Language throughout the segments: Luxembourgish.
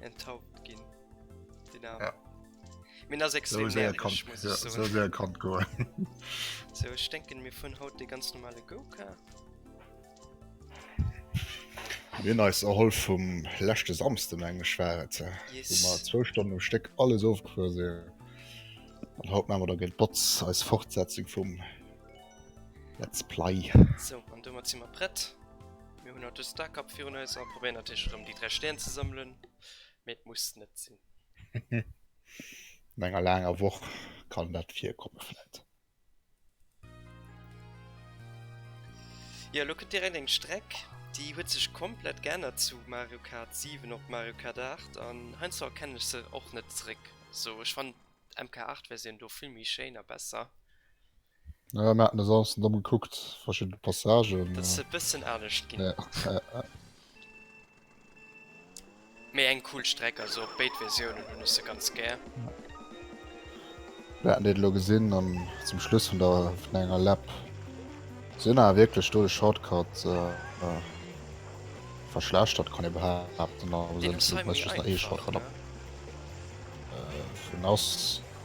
enthaupt gin Min as extrem kommt go So denken mir vun haut de ganz normale Goka Min eis erholl vum lächte samste eng schwere ze mat 2 Stonne um Steck alles ofgefuer se An haut mawer der gelt Botz eis Fortsetzung vum Let's play. So, an du mat zimmer prett. Mir hunn haut e Starcup virun eis a probéieren natierlech erëm déi 3 Stären ze sammelen, mee et muss net sinn. No enger laanger Woch kann dat virkomme vläit. Jo, elo kënnt direkt eng Streck, déi huet sech komplett geännert zu Mario Kart 7 op Mario Kart 8 an heiansdo erkennen ech se och net zeréck. Also ech fannen d'MK8-Versioun do vill méi schéin a besser. Naja, mir haten e Samsten domm gekuckt, verschidden Passagen. Dat ass e bëssen anescht ginn. Ja, ja, ja. Mee eng cool Streck, also op béid Versiounen hunn ech se ganz gär. Mir haten déi elo gesinn an zum Schluss vun der vun enger Lap. Si hunn awer wierklech do de Shortcut verschlechtert, kann ee behaapten. Deen um Site méi einfach, oder? Deen ass.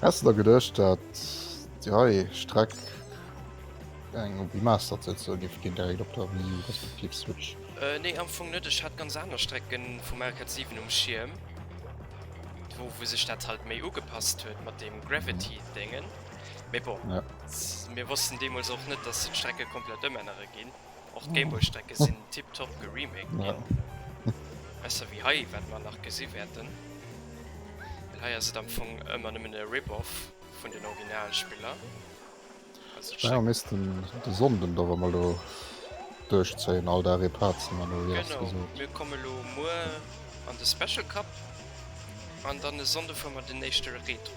Häss de der geduecht dat déi hei Streck eng op Remastered soll giff ginn direkt op der Wii U respektiv Switch? Nee am Fong net, ech hat ganz aner Strecken vu Mario Kart 7 um Schierm wou wou sech dat halt méi ugepasst huet mat dem Gravity Dengen, mee bon mir wossten deemols och net dass se d'Strecke komplett ëmännere ginn. Och d'Gameboy-Strecke sinn tiptop geremaked ginn. Besser wéi hei, wat mer nach gesi wäerten. Well hei ass et am Fong ëmmer nëmmen e Rip-Off vun den Originalspiller. Naja, missten de Sonnden dach emol do duerchzéien, all Dag ee Part ze man, oder wéi hatt gesot? Genau, mir komme lo muer an de Special Cup, an dann e Sonnde fuere mer den éischte Retro.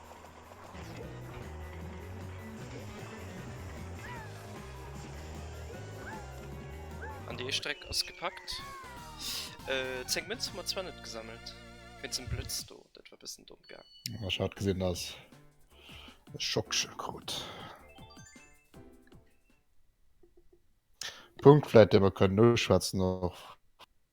An déi éischt Reck ass gepackt. 10 Mënz hu mer zwar net gesammelt. Wéinst dem Blëtz do, dat war e bëssen domm gaang. Ech hat gesinn, dass ech Schocksche krut. Punkt vläit, dee mer kënnen noschwätzen och.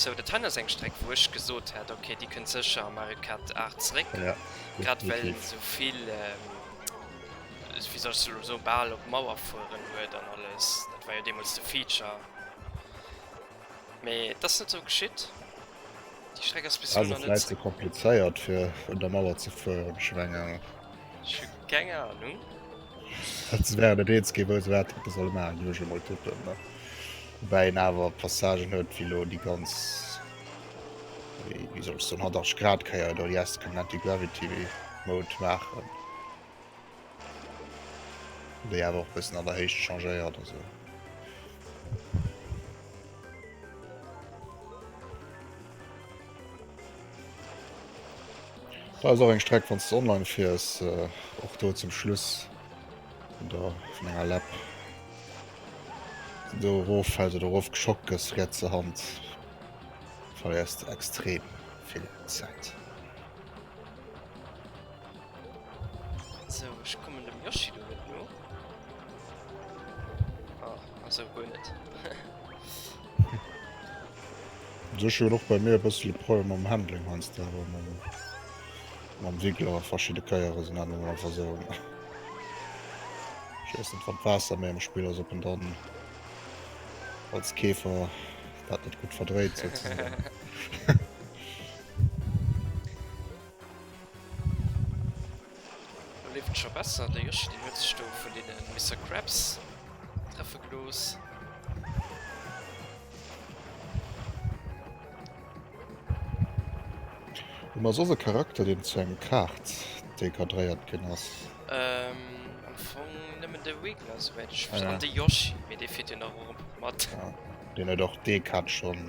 Sou dat hei ass eng Streck wou ech gesot hätt ok déi kënnt sécher a Mario Kart 8 zréck, grad well en souvill wéi soll ech se elo soen bal op d'Mauer fueren huet an alles, dat war jo deemools de Feature. Mee et ass net sou geschitt. Déi Streck ass bis elo nach net zréck. Ass et vläit ze komplizéiert fir un der Mauer ze fueren? Ech hu keng Ahnung. Ech hu keng Ahnung. Wann se wären et eens gi wou se wat hätte solle maachen, géif ech emol tippen. Woubäi een awer Passagen huet wéi elo déi ganz, wéi soll ech soen, 180 Grad Kéier do, déi heiansdo kënnen Anti-Gravity Mode maachen. Déi awer och bëssen an der Héicht changéiert a sou. Da ass och eng Streck wann du online fiers äh, och do zum Schluss vun der vun enger Lap. Do erof fält oder erof geschockt gëss rietserhand verléiers du extrem vill Zäit. So, ech kommen dem Yoshi do net no. Ah, also guer net. Sech huet och bei mir e bëssel e Problem mam Handling heiansdo, awer mam, mam Winkel awer verschidde Keiere sinn dat nun einfach so. Ich weiß net, wat d'Waasser méi am Spill ass, ob en dann als Käfer dat net gutt verdréit sozusagen. Lo leeft et scho besser, de Yoshi deen huet sech do vun deene Mister Krabs treffe gelooss. Huet mer soss e Charakter deen zu engem Kaart dee kadréiert ginn ass? Ehm am Fong nëmmen de Wiggler souwäit ech weess, an de Yoshi, mee dee fiert jo nach erëm mat. Deen huet och dee Kaart schonn.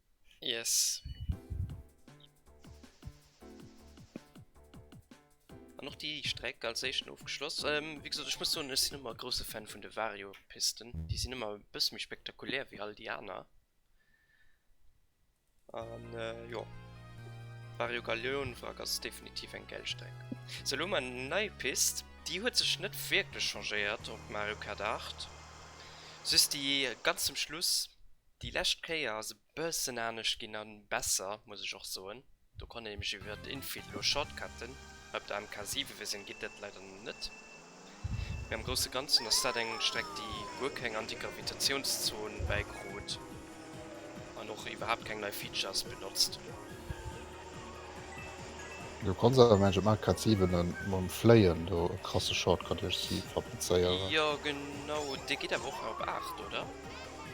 Yes. An och déi Streck als éischten ofgeschloss. Ähm, wéi gesot, ech muss soen, ech sinn ëmmer e grouse Fan vun de Vario-Pisten. Déi sinn ëmmer e bësse méi spektakulär wéi all déi aner. An äh, jo. Vario Galeon-Wrack ass definitiv eng gäil Streck. Sou, elo mar eng nei Pist. Déi huet sech net wierklech changéiert op Mario Kart 8. Just déi ganz zum Schluss, Déi lescht Kéier ass e bëssen anescht ginn a besser, muss ech och soen. Do konnt een nämlech iwwer Infill elo Shortcutten. Op der MK 7, wéi se en, geet dat leider net. Mee am grousse Ganzen ass dat eng Streck, déi guer keng Antigravitationszon bäikrut an och iwwerhaapt keng nei Features benotzt. Do konnt se awer, mengen ech, op MK 7 mam Fléien do e krasse Shortcut duerch si fabrizéieren. Jo, genau. Dee geet awer och nach op 8, oder?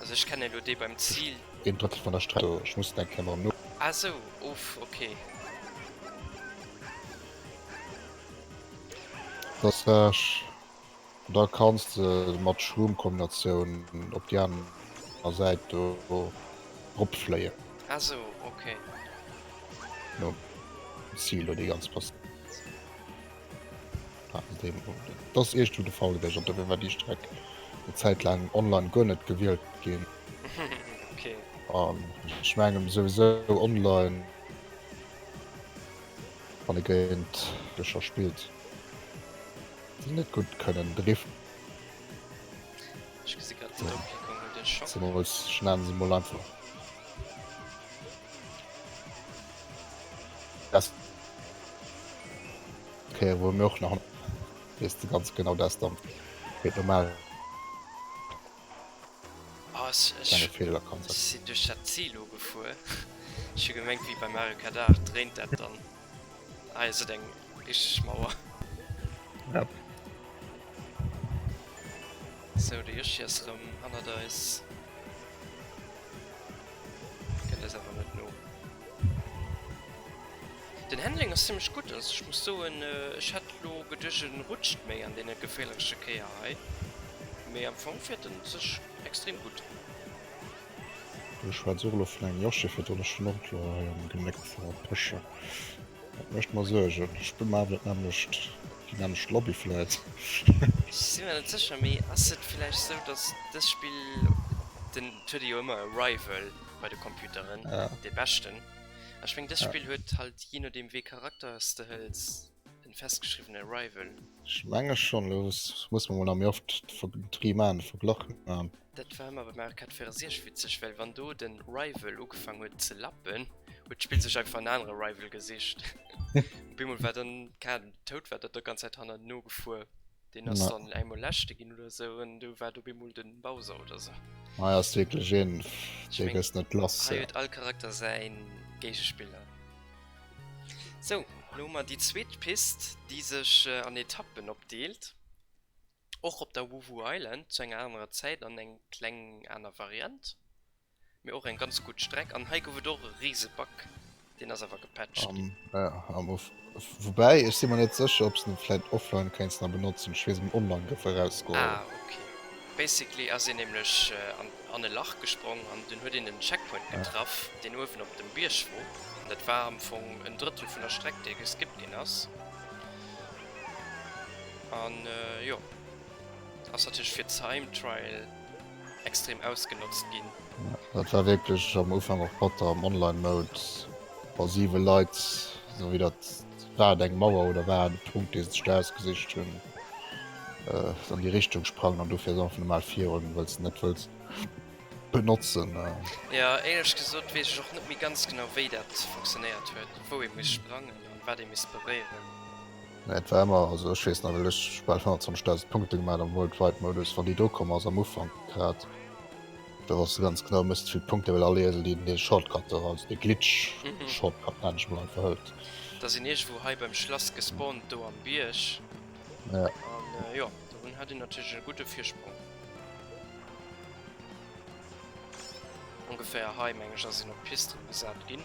Also ech kennen elo dee beim Ziel. Deen drëtt vun der Streck do, ech muss den eng Kéier mol no. Ah sou, uff, okay. Dats wech, an da kanns de mat Schrummkombinatioun op déi aner Säit do drop fléien. Ah sou, okay. Nom Ziel do déi ganz Pas. Et ass eescht wéi de Faulebierg an dobäi war déi Streck eng Zäit laang online guer net gewielt ginn. An ech mengen souwisou online wann ee géint Bierger spillt déi net gutt kënnen driften, zemools, ech nennen se mol einfach, Okay, wou mir och nach wees de ganz genau das dann wéi normal Ass ech Fehler kann sinn duerch dat Silo gefuer. Ech hu gemengt wéi bei Mario Kart 8 dréint dat dann. Hei ass et eng richteg Mauer. Yep. Sou de Yoshi ass rëm hannert eis. Kënnt eis awer net no. Den Handling ass zimlech gutt, also ech muss soen ech hätt elo geduecht e rutscht méi an deene geféierleche Kéier hei, mee am Fong fiert en sech extrem gutt. Do schwätz ech och elo vun engem Yoshi, fir d'Honneschnurkler hei am Genéck ze verpëschen. Dat mécht mer Suergen. Ech bin mer awer net nämlecht, déi nämlecht Lobby vläit. Ech si mer net sécher, mee ass et vläicht esou, datt dëst Spill den. Et huet ee jo ëmmer e Rival bei de Computeren, dee Beschten. A ech meng, dëst Spill huet halt, jee nodeem wéi Charakter s de hëls, en festgeschriwwene Rival. Ech menge schonn. Elo muss mer mol nach méi oft d'Vergl, d'Dree maachen, de Verglach maachen. Dat war mer bei Mario Kart 64 witzeg, well wann do den Rival ugefang huet ze lappen, huet d'Spill sech einfach en anere Rival gesicht. Op eemol war dann d'Kat tout, war dat der ganz Zäit hannert no gefuer. Deen ass dann engmol leschte ginn oder esou an du war op eemol den Bowser oder esou. Hei ass wierklech een, dee gëss net lass. Hei huet all Charakter säi Géigespiller. Sou, elo hu mer déi zweet Pist, déi sech an Etappen opdeelt. Och op der Wuvu Island zu enger anerer Zäit an eng kleng aner Variant, mee och eng ganz gutt Streck. An hei gouf et och e riise Bug, deen ass awer gepatcht ginn. Woubäi ech si mer net sécher ob s de vläit offline kéints nach benotzen, ech weess, um online gouf e rausgeholl. Ah ok, basically ass een nämlech an e Lach gesprong an dunn huet een en Checkpoint getraff, deen uewen op dem Bierg wor, an dat war am Fong en Drëttel vun der Streck, déi geskipt ginn ass. An jo, ass natierlech fir Time Trial extrem ausgenotzt ginn. Dat war wierklech am Ufank och batter am Online Mode, wa 7 Leit, esou wéi dat war et eng Mauer oder war et e Punkt dee sech do ausgesicht hunn, an déi Richtung sprangen an dofir ass einfach normal virun, well s de net wëlls benotzen. Jo, éierlech gesot weess ech och net méi ganz genau wéi dat funktionéiert huet, wou ee muss sprangen. an wat ee misst beréieren. Mee et war ëmmer, also ech weess nach wéi ech bal 25.000 Punkte gemaat am World Wide Modus wann déi do komm ass am Ufank grad, do wars de ganz genau misst vill Punkte well all Iesel deen dee Shortcut do, also dee Glitch Shortcut nennt ech mol einfach hëlt. Da sinn iergendwou hei beim Schlass gespawnt do am Bierg an jo dobun hat een natierlech e gudde Virsprong. Ongeféier hei meng ech ass een op d'Piste gesat ginn.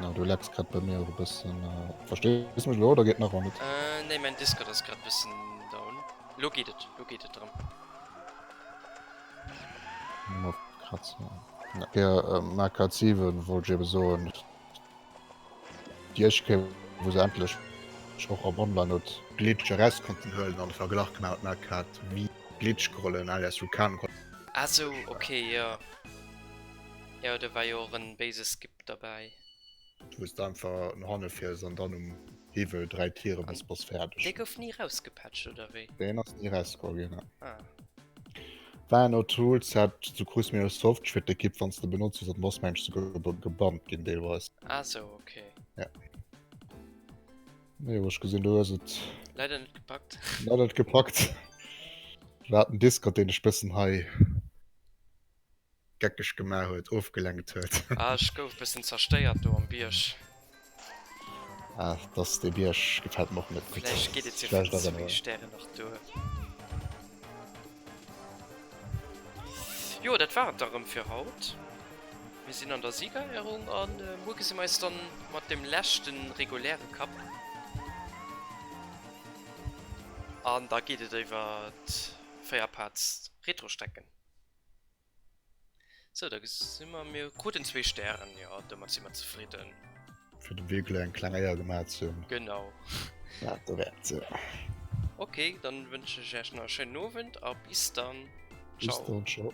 Na, du lags grad bei mir och e bëssen. Verstees mech elo oder geet nach ëmmer net? Nee, mäin Discord ass grad bëssen down. Elo geet et, elo geet et erëm. Marker 7 wollt ech eben soen, Iech kéint wou se endlech och am Online huet d'Glitch eraus konnten huelen an de Verglach gemaach hutt, Marker 7 Glitch geholl an alias Vulkan geholl. Ah sou, ok, jo. Jo do war jo och en béise Skip derbäi. Du muss einfach no hanne fiers an dann um Hiwwel 3 Tieren bis bass färdeg. Dee gouf ni rausgepatcht oder wéi? Deen ass ni rausgekomm gin ne. Ah. War no Tool Set zu kruss mir e Soft Shredder Kit wanns de benotzt hues an bass mensch souguer gebannt gin deelweis. Ah sou ok. Ja. Jo ech gesin du hues et. Leider net gepackt. Leider net gepackt. War den Discord deen dech bessen hei. geckeg gemaach huet, ofgelenkt huet. Ah, ech gouf e bëssen zerstéiert do am Bierg. Ah, dass dee Bierg gefält mer och net gutt. Vläicht geet et jo fir ze vill Stären nach do. Jo, dat war et da rëm fir haut. Mir sinn an der Siegerehrung a muer gesi mer eis da mat dem leschte reguläre Cup. An da geet et iwwer d'Féierpaarts-Retrostrecken. So, da gesi mer mir kruten zwee Stären, jo, domat si mer zefridden. Fir de Wee kleng kleng Éier gemat ze hunn. Genau. Dat do wäert se. Okay, dann wënschen ech Iech nach e schéinen Owend a bis dann. Bis dann, ciao.